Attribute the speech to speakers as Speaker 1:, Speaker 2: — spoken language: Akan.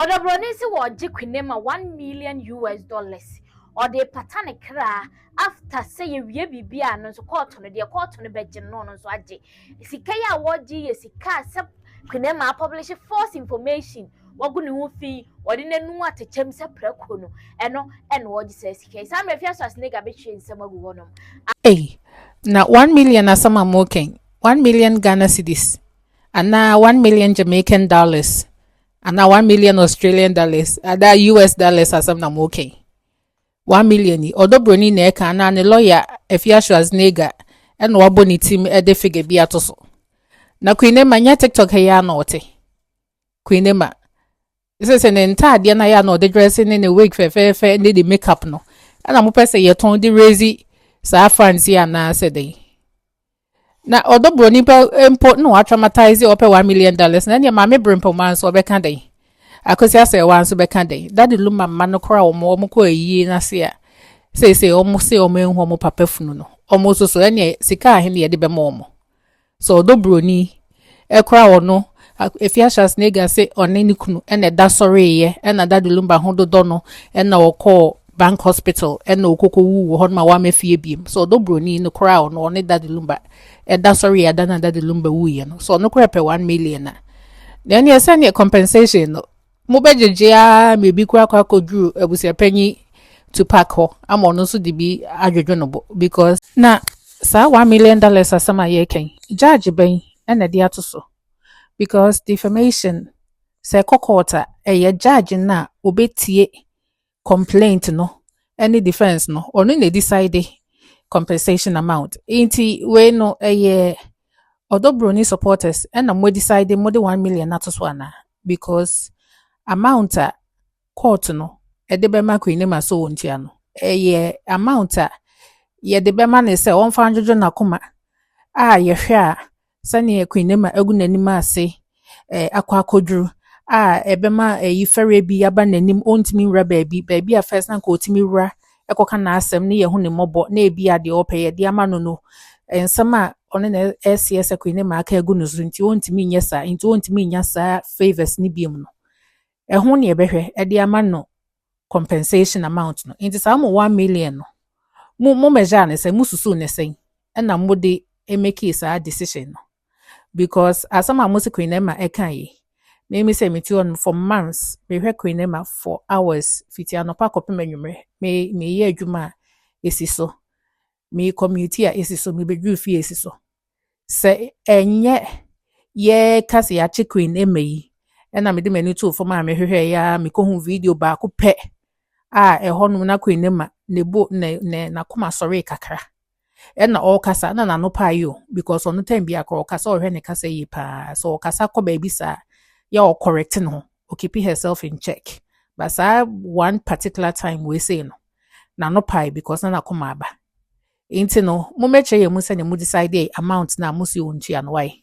Speaker 1: Ɔdɔbrɔni se wɔregye Quinne ma one million US dollars ɔde repata ne kra after sɛ yɛwie biribi a no nso kɔɔto no deɛ kɔɔto no bɛgye no na ɔno nso agye. Sika yi a wɔregye yi yɛ sika a sɛ Quinne ma apɔblehye false information wagu ne ho fi ɔde n'anu atekyɛm sɛ prako no ɛno ɛna ɔregye saa sika yi. Saa mmerɛ Afiaso Asenega bɛhwie nsɛm agu hɔnom. Ei,
Speaker 2: na one million asɛm a moreka yi, one million Ghana cedis anaa one million Jamaican dollars Anaa one million Australian dollars adaa US dollars asɛm na mo kɛn. One million yi ɔdɔ broni na ɛka anaa ne lawyer Afia Schwarzenegger ɛna wabɔ ne tim ɛde figure bi ato so. Na Queen Emma nyɛ TikTok ha yɛ ana ɔte. Queen Emma sɛ sɛ ne ntaadeɛ na yɛ ana ɔde dress ne ne wig fɛfɛɛfɛ ne ne makeup no ɛna mo pɛ sɛ yɛtɔn de raise saa fans yi anaa sɛ dɛn. Na ɔdɔ broni pa mpo na watramataize ɔpɛ one million dollars na ɛneɛ maame brempoma nso ɔbɛka dɛn? Akwasi asɛewa nso bɛka dɛn? Dade luma mma no koraa wɔn wɔn kɔ ayie no ase a seesei wɔn se wɔn anhu wɔn papa funu no wɔn soso ɛneɛ sika ahe na yɛde bɛma wɔn? So ɔdɔ broni Ɛkora wɔ no, Afia Schwarzenegger se ɔne ne kunu na ɛda sɔreeɛ ɛna Daddy Lumba ho dodɔ no ɛna ɔkɔɔ Bank Hospital ɛna ɔkɔkɔ wuu wɔ hɔ nom a wamɛ fie biem. So ɔdɔ broni no koraa wɔ no, ɔne Daddy Lumba ɛda sɔreeɛ ada no a Daddy Lumba wuiɛ no, so ɔno koraa pɛ one million a. Na ɛneɛ sɛneɛ compensation no Mobɛgyegye ara ma ebi koraa kɔ akɔduru abusuapanyin Tupac hɔ ama ɔno nso de bi adwodwo ne bo because. Na saa one million dollars asɛm a yɛreka yi, judge bɛn na ɛde ato so? Because defamation sɛ ɛkɔ court a, ɛyɛ judge no a ɔbɛtie complaint no ne defence no ɔno na decide compensation amount nti wei no ɛyɛ ɔdɔ broni supporters ɛna mo decide mo de one million ato so ana because amount a court no ɛde bɛma Queen Naima so wɔn tua no ɛyɛ amount a yɛde bɛma ne sɛ wɔmfa adwodwo n'akoma a yɛhwɛ a Sɛnea Queen Nema agu n'anim ase akɔ akɔduru a ɛbɛma ayi fɛreɛ bi aba n'anim, ɔntumi nwura baabi, baabi a first na nka ɔtumi wura kɔka n'asɛm ne yɛho ne mmɔbɔ na ebi a deɛ ɔpɛ yɛde ama no no, nsɛm a ɔne na ɛseɛ sɛ Queen Nema aka agu no so nti ɔntumi nyɛ saa, nti ɔntumi nya saa favours ne biom no. Ɛho ne ɛbɛhwɛ ɛde ama no compensation amount no nti saa mo one million no mo mo measure ne sɛn mo susu ne sɛn ɛna mo de make saa decision no because asɛm a mo si Queen Emma ɛka yi mimi sɛ meti hɔ no for months mehwɛ Queen Emma for hours fiti anɔpa kɔpem anwummerɛ me meyɛ adwuma a esi so me commute a esi so, mebeduru fie a esi so. Sɛ ɛnyɛ yɛka sɛ yɛakye Queen Emma yi, ɛna mede m'ani too fam a mehwehwɛ yɛ a mekohu video baako pɛ a ɛhɔ nom na Queen Emma ne bo ne ne n'akoma sɔree kakra. Ɛna ɔrekasa na n'ano paa yi o because ɔno time biara kora ɔkasa ɔhwɛ ne kasa yie paa. So ɔkasa kɔ baabi saa yɛ ɔkɔrɛte ne ho o keep herself in check but saa one particular time wei sei no n'ano pae because na n'akoma aba nti no mo mɛkyerɛ yɛn mu sɛnea mo decide amount na mo si wɔn tua no wae.